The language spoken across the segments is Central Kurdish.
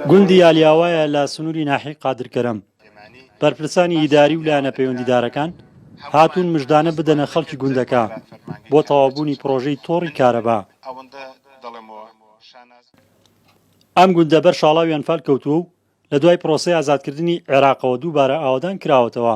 گوندی یالیاوایە لە سنووری ناحی قادرکەرەم بەرپرسانی ئیداری و لایەنە پەیوەندیدارەکان هاتوون مژدانە بدەنە خەڵکی گوندەکە بۆ تەوابوونی پرۆژەی تۆڕی کارەبا ئەم گوندە بەر شاڵاویان فال کەوتووە و لە دوای پرۆسەی ئازادکردنی عێراقەوە دووبارە ئاوەدان کراوەتەوە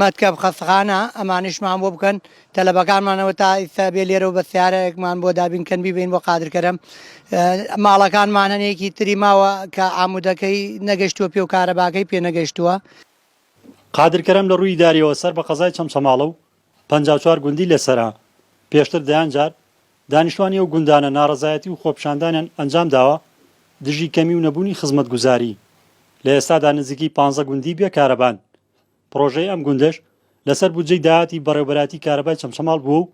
مەتکەب خەستەخانە ئەمانیشمان بۆ بکەن تەلەبەکانمانەوە تا ئیستا بێ لێرەوە بە سیارەیەکمان بۆ دابین کەن بیبین بۆ قادرکەرم ماڵەکانمان هەنێکی تری ماوە کە ئامودەکەی نەگەشتووە پێ و کارەباکەی پێ نەگەشتووە. قادرکەرم لە رووی ئیداریەوە سەر بە قەزای چەمچەماڵە و پەنجا و چوار گوندی لەسەرە. پێشتر دەیان جار دانیشتوانی ئەو گوندانە ناڕەزایەتی و خۆپیشاندانیان ئەنجام داوە دژی کەمی و نەبوونی خزمەتگوزاری. لە ئێستادا نزیکەی پانزە گوندی بێ کارەبان. پڕۆژەی ئەم گوندەش لەسەر بودجەی داهاتی بەڕێوەبەرایەتی کارەبای چەمچەماڵ بووە و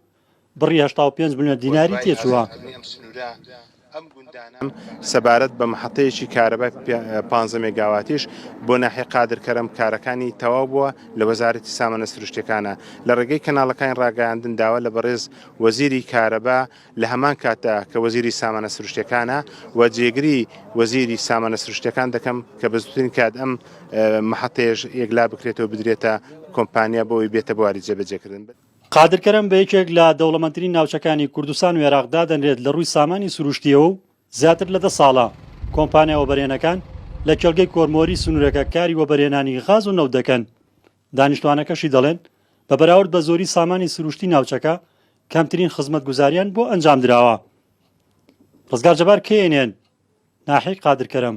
بڕی هەشتا و پێنج ملیۆن دیناری تێچووە. سەبارەت بە مەحەتەیەکی کارەبای پانزە مێگاواتیش بۆ ناحیە قادرکەرەم کارەکانی تەواو بووە لە وەزارەتی سامانە سروشتیەکانە لە ڕێگەی کەناڵەکانی ڕاگەیاندن داوا لە بەڕێز وەزیری کارەبا لە هەمان کاتدا کە وەزیری سامانە سروشتیەکانە و جێگری وەزیری سامانە سروشتیەکان دەکەم کە بە زووترین کات ئەم مەحەتەیەش یەکلا بکرێتەوە بدرێتە کۆمپانیا بۆی بێتە بواری جێبەجێکردن. قادر کەرەم بە یەکێک لە دەوڵەمەندترین ناوچەکانی کوردستان و ئێراق دادەنرێت لە ڕووی سامانی سروشتییەوە و زیاتر لە دە ساڵە کۆمپانیا وەبەرهێنەکان لە کێڵگەی کۆرمۆری سنوورەکە کاری وەبەرهێنانی غاز و نەوت دەکەن. دانیشتوانەکەشی دەڵێن، بە بەراورد بە زۆری سامانی سروشتی ناوچەکە کەمترین خزمەتگوزارییان بۆ ئەنجامدراوە. ڕزگار جەبار، knn، ناحیەی قادر کەرەم.